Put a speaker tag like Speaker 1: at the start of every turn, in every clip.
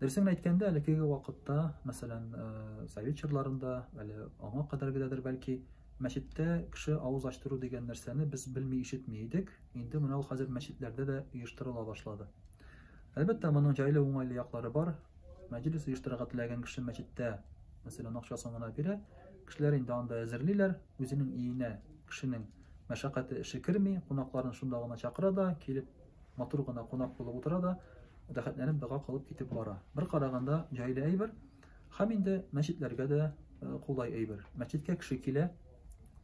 Speaker 1: Дөресен әйткәндә, әлеге вакытта, мәсәлән, э, совет чорларында, әле аңа кадәргедәдер бәлки, мәчеттә кеше авыз ачтыру дигән нәрсәне без белми ишетми идек. Инде менә ул хәзер мәчетләрдә дә оештырыла башлады. Әлбәттә, моның җайлы уңайлы яклары бар. Мәҗлис оештырырга теләгән кеше мәчеттә, мәсәлән, акчасын гына бирә. Кешеләр инде анда әзерлиләр, үзенең иенә кешенең мәшәкате эше керми, кунакларын шунда гына чакыра да, килеп матур гына кунак булып утыра да, рәхәтләнеп дога кылып китеп бара. Бер караганда җайлы әйбер, һәм инде мәчетләргә дә кулай әйбер. Мәчеткә кеше килә,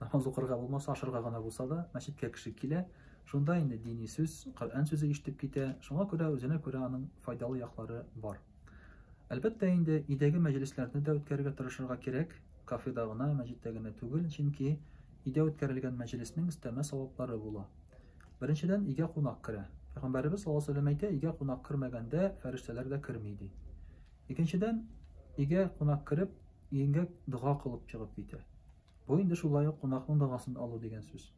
Speaker 1: намаз укырга булмаса, ашырга гына булса да, мәчеткә кеше килә. Шунда инде дини сүз, Коръән сүзе ишетеп китә. Шуңа күрә үзенә күрә аның файдалы яклары бар. Әлбәттә инде, өйдәге мәҗлесләрне дә үткәрергә тырышырга кирәк. Кафеда гына, мәҗеттә генә түгел, чөнки өйдә үткәрелгән мәҗлеснең өстәмә саваплары була. Беренчедән, өйгә кунак керә. Пәйгамбәребез саллаллаһу алейһи вә сәлләм әйтә, өйгә кунак кермәгәндә, фәрештәләр дә керми, ди. Икенчедән, өйгә кунак кереп, өеңгә дога кылып чыгып китә. Бу инде шулай ук кунакның догасын алу дигән сүз.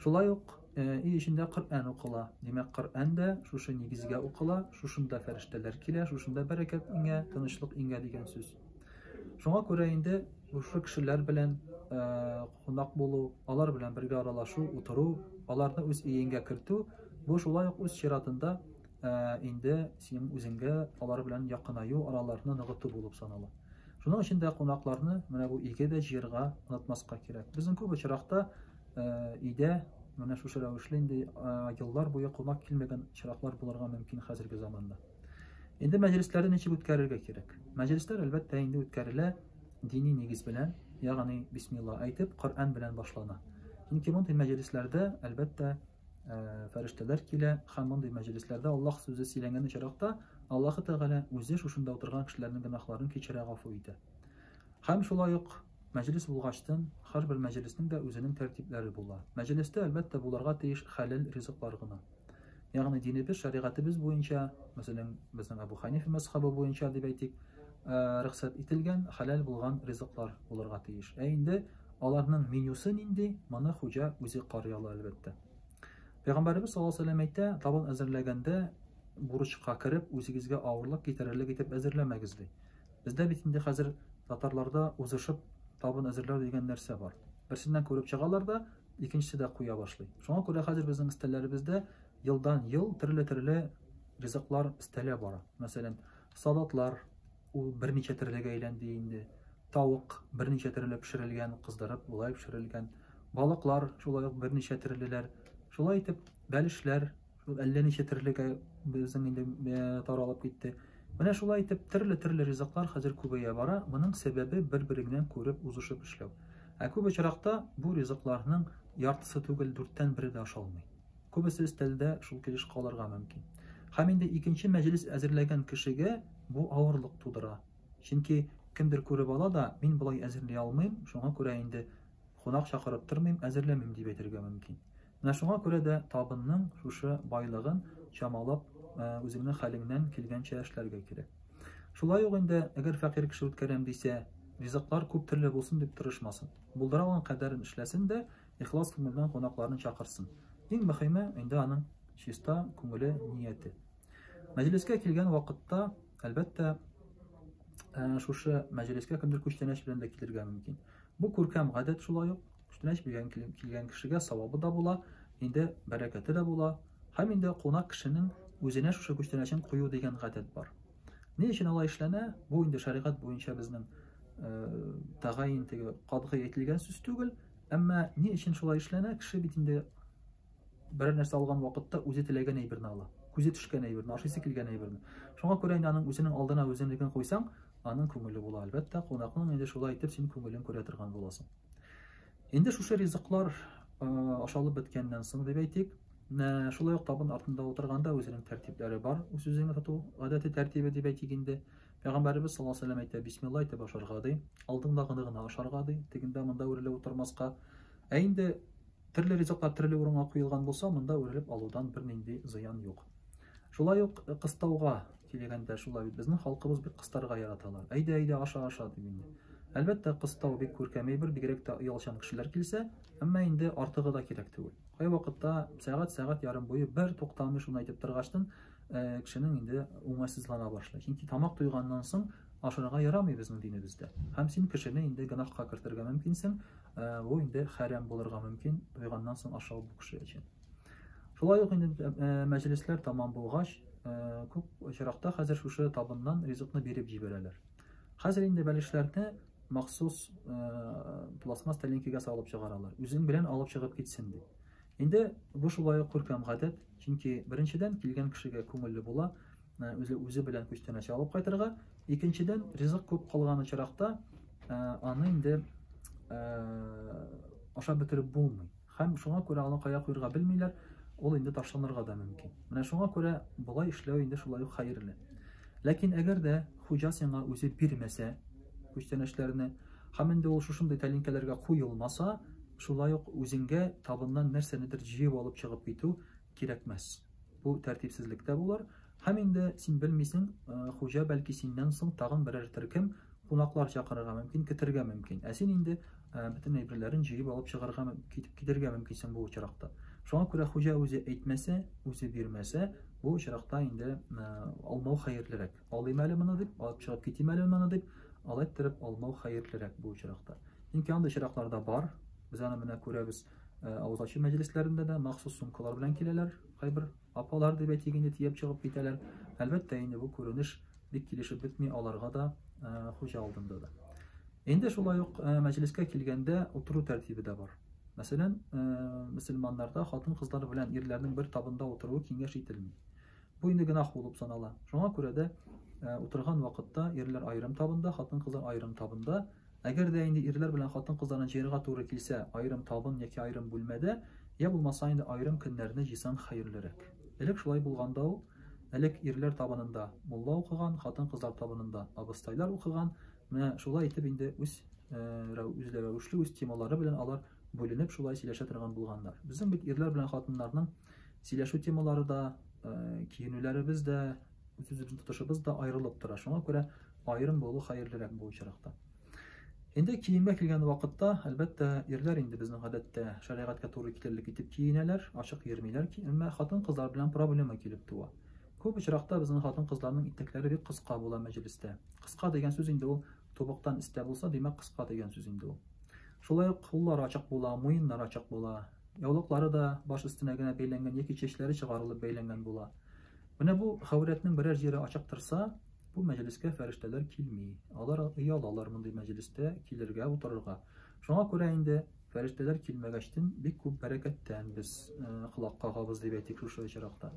Speaker 1: Шулай ук өй э, эчендә Коръән укыла. Димәк, Коръән дә шушы нигезгә укыла, шушында фәрештәләр килә, шушында бәрәкәт иңә, тынычлык иңә дигән сүз. Шуңа күрә инде шушы кешеләр белән кунак булу, алар белән бергә аралашу, утыру, аларны үз иеңгә кертү, бу шулай ук үз чиратында инде синең үзеңгә алар белән якынаю, араларны ныгыту булып санала. Шуның өчен дә кунакларны менә бу иге дә җыерга онытмаска кирәк. Безнең күп очракта өйдә менә шушы рәвешле инде еллар буе кунак килмәгән очраклар булырга мөмкин хәзерге заманда. Инде мәҗлесләрне ничек үткәрергә кирәк? Мәҗлесләр әлбәттә инде үткәрелә дини нигез белән, ягъни бисмилла әйтеп, Коръән белән башлана. Чөнки мондый мәҗлесләрдә әлбәттә э, фәрештәләр килә һәм мондый мәҗлесләрдә Аллаһ сүзе сөйләнгән очракта Аллаһ Тәгалә үзе шушында утырган кешеләрнең гөнаһларын кичерә, гафу итә. Һәм шулай ук мәҗлес булгачтын, һәрбер мәҗлеснең дә үзенең тәртипләре була. Мәҗлестә әлбәттә буларга тиеш хәләл ризыклар гына. Ягъни динебез, шәригатебез буенча, мәсәлән, безнең Абу Ханифа мәсхабы буенча дип әйтик, э, рөхсәт ителгән, хәләл булган ризыклар булырга тиеш. Ә инде аларның менюсы нинди, моны хуҗа үзе карый ала, әлбәттә. Пәйгамбәребез саллаллаху алейһи вәсәлләм әйтә, табын әзерләгәндә бурычка кереп, үзегезгә авырлык китерерлек итеп әзерләмәгез ди. Бездә бит инде хәзер татарларда узышып табын әзерләү дигән нәрсә бар. Берсеннән күреп чыгалар да, икенчесе дә куя башлый. Шуңа күрә хәзер безнең өстәлләребездә елдан-ел төрле-төрле ризыклар өстәлә бара. Мәсәлән, салатлар, ул берничә төрлегә әйләнде инде. Тавык берничә төрле пешерелгән, кыздырып, болай пешерелгән. Балыклар шулай ук берничә төрлеләр. Шулай итеп, бәлешләр, Ул әллә ничә терлегә безнең инде э, таралып китте. Менә шулай итеп төрле-төрле ризыклар хәзер күбәя бара. Моның сәбәбе бер-береңнән күреп узышып эшләү. Ә күп очракта бу ризыкларның яртысы түгел, дүрттән бере дә ашалмый. Күбесе өстәлдә шул килеш калырга мөмкин. Һәм инде икенче мәҗлес әзерләгән кешегә бу авырлык тудыра. Чөнки кемдер күреп ала да, мин болай әзерли алмыйм, шуңа күрә инде Кунак чакырып тормыйм, әзерләмим, дип әйтергә мөмкин. Менә шуңа күрә дә табынның шушы байлыгын чамалап, үзеңнең хәлеңнән килгәнчә эшләргә кирәк. Шулай ук инде, әгәр фәкыйрь кеше үткәрәм дисә, ризыклар күп төрле булсын дип тырышмасын. Булдыра алган кадәрен эшләсен дә, ихлас күңелдән кунакларны чакырсын. Иң мөхиме инде аның чиста күңеле, нияте. Мәҗлескә килгән вакытта, әлбәттә, шушы мәҗлескә кемдер күчтәнәч белән дә килергә мөмкин. Бу күркәм гадәт шулай ук күчтәнәч биргән килгән кешегә савабы да була, инде бәрәкәте дә була. Һәм инде кунак кешенең үзенә шушы күчтәнәчен кую дигән гадәт бар. Ни өчен алай эшләнә? Бу инде шәригать буенча безнең тәгаен теге катгый әйтелгән сүз түгел, әмма ни өчен шулай эшләнә? Кеше бит инде Берәр нәрсә алган вакытта үзе теләгән әйберне ала. Күзе төшкән әйберне, ашыйсы килгән әйберне. Шуңа күрә инде аның үзенең алдына үзенекен куйсаң, аның күңеле була. Әлбәттә, кунакның инде шулай итеп син күңелен күрә торган буласың. Инде шушы ризыклар ашалып беткәннән соң дип әйтик, шулай ук табын артында утырганда үзенең тәртипләре бар, үз үзеңне тоту гадәте тәртибе дип әйтик инде. Пәйгамбәребез саллаллаһу алейһи ва сәлләм әйтә, бисмилла әйтеп ашарга ди, алдыңдагыны гына ашарга ди, тегендә монда үрелеп утырмаска. Ә инде Төрле ризыклар төрле урынга куелган булса, монда үрелеп алудан бернинди зыян юк. Шулай ук э, кыстауга килгәндә шулай бит безнең халкыбыз бик кыстарга яраталар. Әйдә, әйдә, аша, аша дип инде. Әлбәттә, кыстау бик күркәм әйбер, бигрәк тә оялчан кешеләр килсә, әмма инде артыгы да кирәк түгел. Кай вакытта сәгать, сәгать ярым буе бер туктамый шуны әйтеп торгачтын, э, кешенең инде уңайсызлана башлый. Чөнки тамак туйганнан соң ашарга ярамый безнең динебездә. Һәм син кешене инде гөнаһка кертергә мөмкинсең, Бу инде хәрәм булырга мөмкин, туйганнан соң ашау бу кеше өчен. Шулай ук инде мәҗлесләр тәмам булгач, күп очракта хәзер шушы табыннан ризыкны биреп җибәрәләр. Хәзер инде бәлешләрне махсус пластмасс тәлинкәгә салып чыгаралар. Үзең белән алып чыгып китсен дип. Инде бу шулай ук күркәм гадәт, чөнки беренчедән килгән кешегә күңелле була, Ә, үзе үзе белән күчтәнәч алып кайтырга. Икенчедән, ризык күп калган очракта, ә, аны инде ә, ашап бетереп булмый. Һәм шуңа күрә аны кая куярга белмиләр, ул инде ташланырга да мөмкин. Менә шуңа күрә болай эшләү инде шулай ук хәерле. Ләкин әгәр дә хуҗа сиңа үзе бирмәсә күчтәнәчләрне, һәм инде ул шушындый тәлинкәләргә куелмаса, шулай ук үзеңгә табыннан нәрсәнедер җыеп алып чыгып китү кирәкмәс. Бу тәртипсезлек тә булыр. Һәм инде син белмисең, хуҗа бәлки синнән соң тагын берәр төркем кунаклар чакырырга мөмкин, кертергә мөмкин. Ә син инде бөтен әйберләрен җыеп алып чыгарга, китеп китергә мөмкинсең бу очракта. Шуңа күрә хуҗа үзе әйтмәсә, үзе бирмәсә, бу очракта инде алмау хәерлерәк. Алыйм әле моны дип, алып чыгып китим әле моны дип, алайттерып алмау хәерлерәк бу очракта. Чөнки андый очракларда бар. Без аны менә күрәбез. Ә, авыз ачу мәҗлесләрендә дә махсус сумкалар белән киләләр, кайбер апалар дип әйтик инде тиеп чыгып китәләр. Әлбәттә инде бу күренеш бик килешеп бетми аларга да, ә, хуҗа алдында да. Инде шулай ук ә, мәҗлескә килгәндә утыру тәртибе дә бар. Мәсәлән, ә, мөселманнарда хатын-кызлар белән ирләрнең бер табында утыруы киңәш ителми. Бу инде генах булып санала. Шуңа күрә дә ә, утырган вакытта ирләр аерым табында, хатын-кызлар аерым табында Әгәр дә инде ирләр белән хатын-кызларны җыярга туры килсә, аерым табын яки аерым бүлмәдә, йә булмаса инде аерым көннәрне җыйсаң хәерлерәк. Элек шулай булганда ул, элек ирләр табынында мулла укыган, хатын-кызлар табынында абыстайлар укыган, менә шулай итеп инде үз үзләрәвешле, үз темалары белән алар бүленеп шулай сөйләшә торган булганнар. Безнең бит ирләр белән хатыннарның сөйләшү темалары да, киенүләребез дә, үз-үзебезнең тотышыбыз да аерылып тора. Шуңа күрә Аерым булу хәерлерәк бу очракта. Инде киемгә килгән вакытта, әлбәттә, ирләр инде безнең гадәттә шәригатькә туры килерлек итеп киенәләр, ачык йөрмиләр, әмма хатын-кызлар белән проблема килеп туа. Күп очракта безнең хатын-кызларның итәкләре бик кыска була мәҗлестә. Кыска дигән сүз инде ул тубыктан истә булса, димәк, кыска дигән сүз инде ул. Шулай ук куллар ачык була, муеннар ачык була, яулыклары да баш өстенә генә бәйләнгән яки чәчләре чыгарылып бәйләнгән була. Менә бу хәүрәтнең берәр җире ачык торса, Бу мәҗлескә фәрештәләр килми. Алар оялалар мондый мәҗлестә килергә, утырырга. Шуңа күрә инде, фәрештәләр килмәгәчтен, бик күп бәрәкәттән без колак кагабыз, дип әйтик шушы очракта.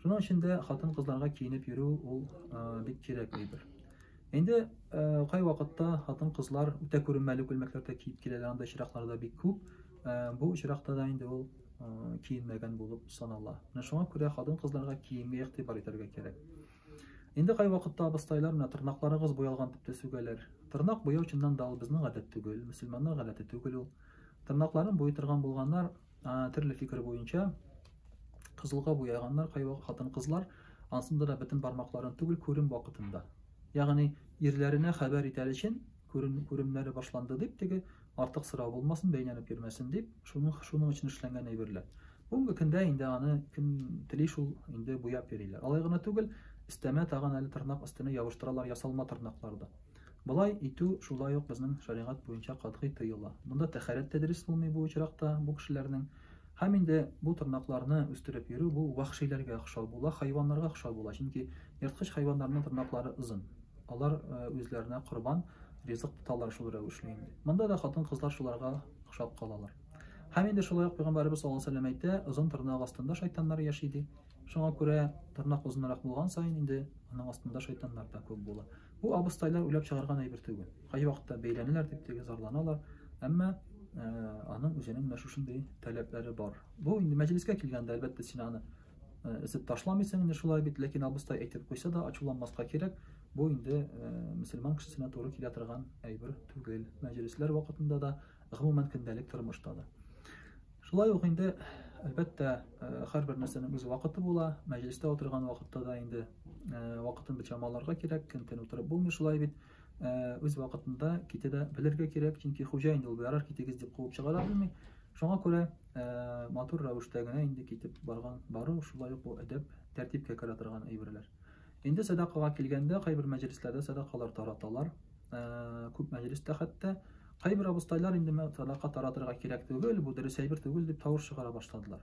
Speaker 1: Шуның өчен дә хатын-кызларга киенеп йөрү ул бик кирәк әйбер. Инде кайвакытта хатын-кызлар үтә күренмәле күлмәкләр дә киеп киләләр, анда очраклар да бик күп. Бу очракта да инде ул киенмәгән булып санала. Менә шуңа күрә хатын-кызларга киемгә игътибар итәргә кирәк. Инде кайвакытта абыстайлар менә тырнакларыгыз буялган дип тә сүгәләр. Тырнак буяу чыннан да ул безнең гадәт түгел, мөселманнар гадәте түгел ул. Тырнакларын буй торган булганнар, төрле фикер буенча кызылга буяганнар кайвакыт хатын-кызлар, ансында да бөтен бармакларын түгел, күрем вакытында. Ягъни ирләренә хәбәр итәр өчен Күрен, күренмәле башланды дип, теге, артык сорау булмасын, бәйнәнеп йөрмәсен дип, шуның, шуның өчен эшләнгән әйберләр. Бүгенге көндә инде аны кем тели шул инде буяп йөриләр. Алай гына түгел, өстәмә тагын әле тырнак өстенә ябыштыралар ясалма тырнаклар да. Болай итү шулай ук безнең шәригать буенча катгый тыела. Монда тәһарәт тә дөрес булмый бу очракта, бу кешеләрнең Һәм инде бу тырнакларны үстереп йөрү бу вәхшиләргә охшау була, хайваннарга охшау була, чөнки ерткыч хайваннарның тырнаклары озын. Алар үзләренә корбан, ризык тоталар шул рәвешле инде. Монда да хатын-кызлар шуларга охшап калалар. Һәм инде шулай ук пәйгамбәребез саллаллаһу алейһи вәсәлләм әйтә, озын тырнак астында шайтаннар яши ди. Шуңа күрә тырнак озынрак булган саен инде аның астында шайтаннар да күп була. Бу абыстайлар уйлап чыгарган әйбер түгел. Кайвакытта бәйләнәләр дип теге зарланалар, әмма э, аның үзенең менә шушындый таләпләре бар. Бу инде мәҗлескә килгәндә, әлбәттә, син аны э, эзеп ташламыйсың, инде шулай бит, ләкин абыстай әйтеп куйса да, ачуланмаска кирәк. Бу инде э, мөселман кешесенә туры килә торган әйбер түгел. Мәҗлесләр вакытында да гомумән көндәлек тормышта да. Шулай ук инде, әлбәттә, һәрбер нәрсәнең үз вакыты була. Мәҗлестә утырган вакытта да инде вакытын бит чамаларга кирәк, көн-төн утырып булмый шулай бит. Үз вакытында китә дә белергә кирәк, чөнки хуҗа инде ул ярар китегез дип куып чыгара белми. Шуңа күрә матур рәвештә генә инде китеп барган бару, шулай ук бу әдәп, тәртипкә керә торган әйберләр. Инде сәдакага килгәндә, кайбер мәҗлесләрдә сәдакалар тараталар. Ә, күп мәҗлестә хәтта кайбер абыстайлар инде сәдака таратырга кирәк түгел, бу дөрес әйбер түгел дип тавыш чыгара башладылар.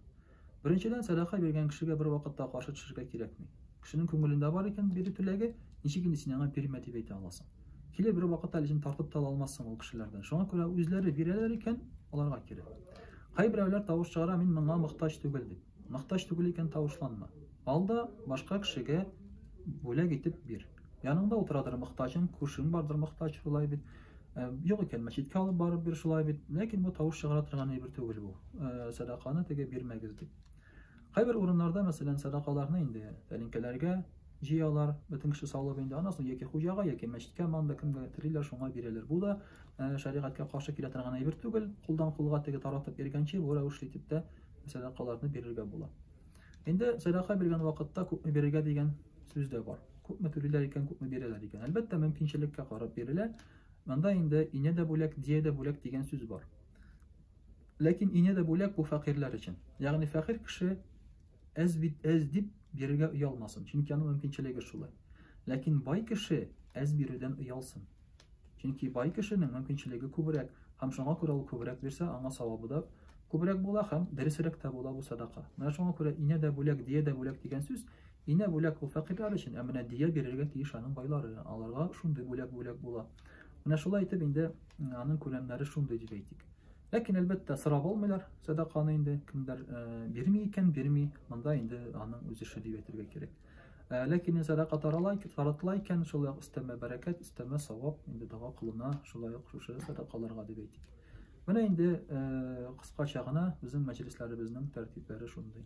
Speaker 1: Беренчедән, сәдака биргән кешегә бер вакытта каршы төшергә кирәкми. Кешенең күңелендә бар икән бирү теләге, ничек инде син аңа бирмә дип әйтә аласың? Килеп бер вакытта әле син тартып та ала алмассың ул кешеләрдән. Шуңа күрә үзләре бирәләр икән, аларга кирәк. Кайберәүләр тавыш чыгара, мин моңа мохтаҗ түгел дип. Мохтаҗ түгел икән, тавышланма. Ал да башка кешегә бүләк итеп бир. Яныңда утырадыр мохтаҗың, күршең бардыр мохтаҗ, шулай бит. Э, юк икән, мәчеткә алып барып бир, шулай бит. Ләкин бу тавыш чыгара торган әйбер түгел бу. Э, сәдаканы теге бирмәгез дип. Кайбер урыннарда, мәсәлән, сәдакаларны инде тәлинкәләргә җыялар, бөтен кеше салып инде, аннан соң яки хуҗага, яки мәчеткә, манда кемгә телиләр, шуңа бирәләр. Бу да э, шәригатькә каршы килә торган әйбер түгел. Кулдан кулга теге таратып йөргәнче, бу рәвешле итеп тә сәдакаларны бирергә була. Инде сәдака биргән вакытта күпме бирергә дигән сүз дә бар. Күпме түлиләр икән, күпме бирәләр икән. Әлбәттә, мөмкинчелеккә карап бирелә. Монда инде ине дә бүләк, дия дә бүләк дигән сүз бар. Ләкин ине дә бүләк бу фәкыйрьләр өчен. Ягъни фәкыйрь кеше әз бит әз дип бирергә оялмасын, чөнки аның мөмкинчелеге шулай. Ләкин бай кеше әз бирүдән оялсын. Чөнки бай кешенең мөмкинчелеге күбрәк, һәм шуңа күрә ул күбрәк бирсә, аңа савабы да күбрәк була һәм дөресрәк тә була бу садака. Менә шуңа күрә инә дә бүләк, дия дә бүләк дигән сүз, инә бүләк ул фәкыйрьләр өчен, ә менә дия бирергә тиеш аның байлары, аларга шундый бүләк бүләк була. Менә шулай итеп инде аның күләмнәре шундый дип әйтик. Ләкин әлбәттә сорап алмыйлар сәдаканы инде, кемдер э, бирми икән, бирми, монда инде аның үз эше дип әйтергә кирәк. Ә, ләкин сәдака тарала, таратыла икән, шулай ук өстәмә бәрәкәт, өстәмә савап инде дога кылына, шулай ук шушы сәдакаларга дип әйтик. Менә инде э, кыскача гына безнең мәҗлесләребезнең тәртипләре шундый.